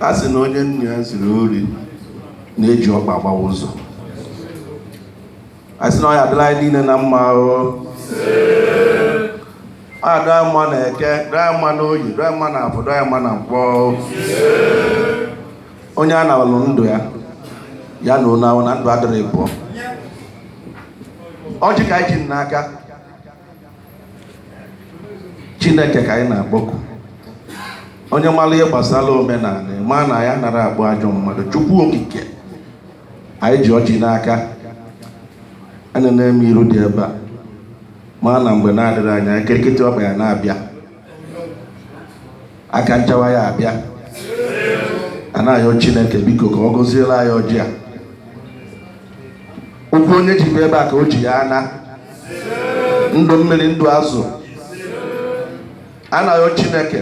a sị na onye nna ya ziri ori na-eji ọkpa agbawa ụzọ a sị na ọ ya adịrị anyị niile na mma ahụ ọ ya dịrị anyị mma na eke dịrị anyị mma na oyi dịrị anyị mma na afọ dịrị anyị mma na nkwọ onye a na-alụ ndụ ya ya na onye ahụ na ndụ adịrị pụọ ọjị ka anyị ji n'aka chineke ka anyị na-akpọku onye mara ihe gbasara omenanị ma na ya anara akpọ ajọ mmadụ chukwu okike anyị ji ọjị n'aka enenee m iru dị ebe a ma na mgbe na-adịrọ anya kirikiti ọkpa ya na-abịa aka nchawa ya abịa a na-ayọ chineke biko ka ọ gọziere anyị ọjị a ụkwụ onye ji bịa ebe a ka o ji ya ana ndụ mmiri ndụ azụ a na-ayọ chineke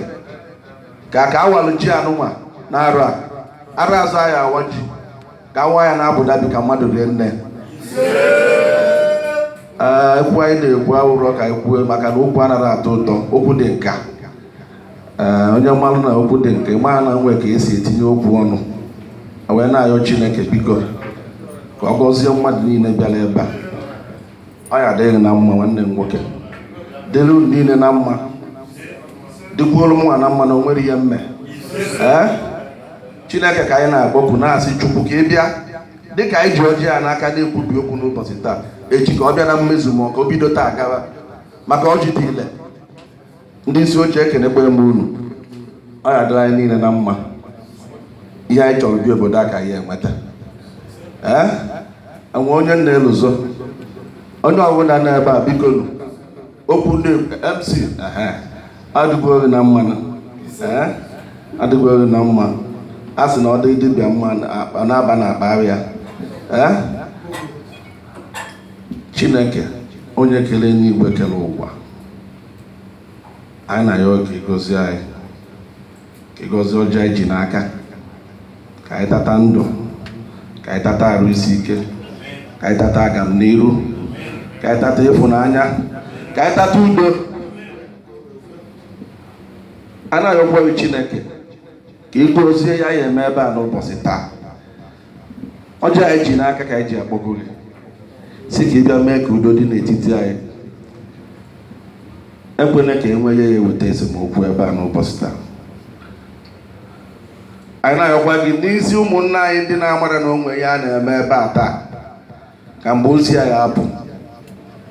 ka ka a walụ ji a nụnwa na arọ a arọ ọzọ anyị awa ji ka a waa ya na obodo bụ ka mmadụ rie nne ee okwu anyị na-ekwu awụrọ ka anyị kwuo maka na okwu anara atọ ụtọ okwu dị nka ee onye malụ na okwu dị nka ma na e nwe ka e si etinye okwu ọnụ wee na-ayọ chineke biko ka ọ gọzie mmadụ niile bịara ebe a ọ ya adịrị gị na mma nwanne m nwoke dịrị unu niile na mma dịkwuoro mụnwa na mma na o nwere ihe mme ee Chineke ka anyị na-akpọku na-asị Chukwu ka ị bịa dịka anyị ji ọjị a n'aka na-ekwubi okwu n'ụbọsị taa echi ka ọ bịa na mmezu ma ọ ka o bido taa gawa maka ọjị dị ile ndị isi oche ekenekwe m unu ọ ya adịrị anyị niile na mma ihe anyị chọrọ bịa obodo a ka anyị enweta ee enwe onye na-elozo onye ọbụla nọ ebe a bikonu okwu ndị mc adịkwu ha na mma adịkwu ha na mma a sị na ọ dị dibịa mma na-aba na akpa ya chineke onye kere enigwe kere ụwa anyị na-ayọ ka ị gọzie anyị ị gọzie ọjị anyị ji n'aka ka anyị tata ndụ ka anyị tata arụ isi ike ka anyị tata agam n'iru ka anyị tata ịfụnanya ka anyị tata udo a na-ayọkwu gị chineke ka ị gọzie ihe a ya eme ebe a n'ụbọsị taa ọjị anyị ji n'aka ka anyị ji akpọku gị sị ka ị bịa mee ka udo dị n'etiti anyị ekwela ka e nwee ihe ya eweta esemokwu ebe a n'ụbọsị taa anyị na-ayọkwa gị n'isi ụmụnna anyị ndị na-amara na o nwe ihe a na-eme ebe a taa ka mgbe ozi a ga-apụ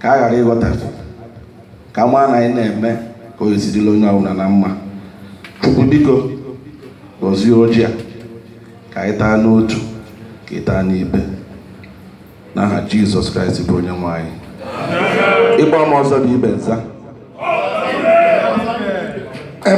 ka a ghara ịghọtafie ka a maa na anyị na-eme ka o si dịrị onye ọbụla na mma chukwu biko gọzie ọjị a ka anyị taa n'otu ka ị taa n'ibe n'aha jizọs kraịst bụ onye nwe anyị ịgba m ọzọ bụ ibe nza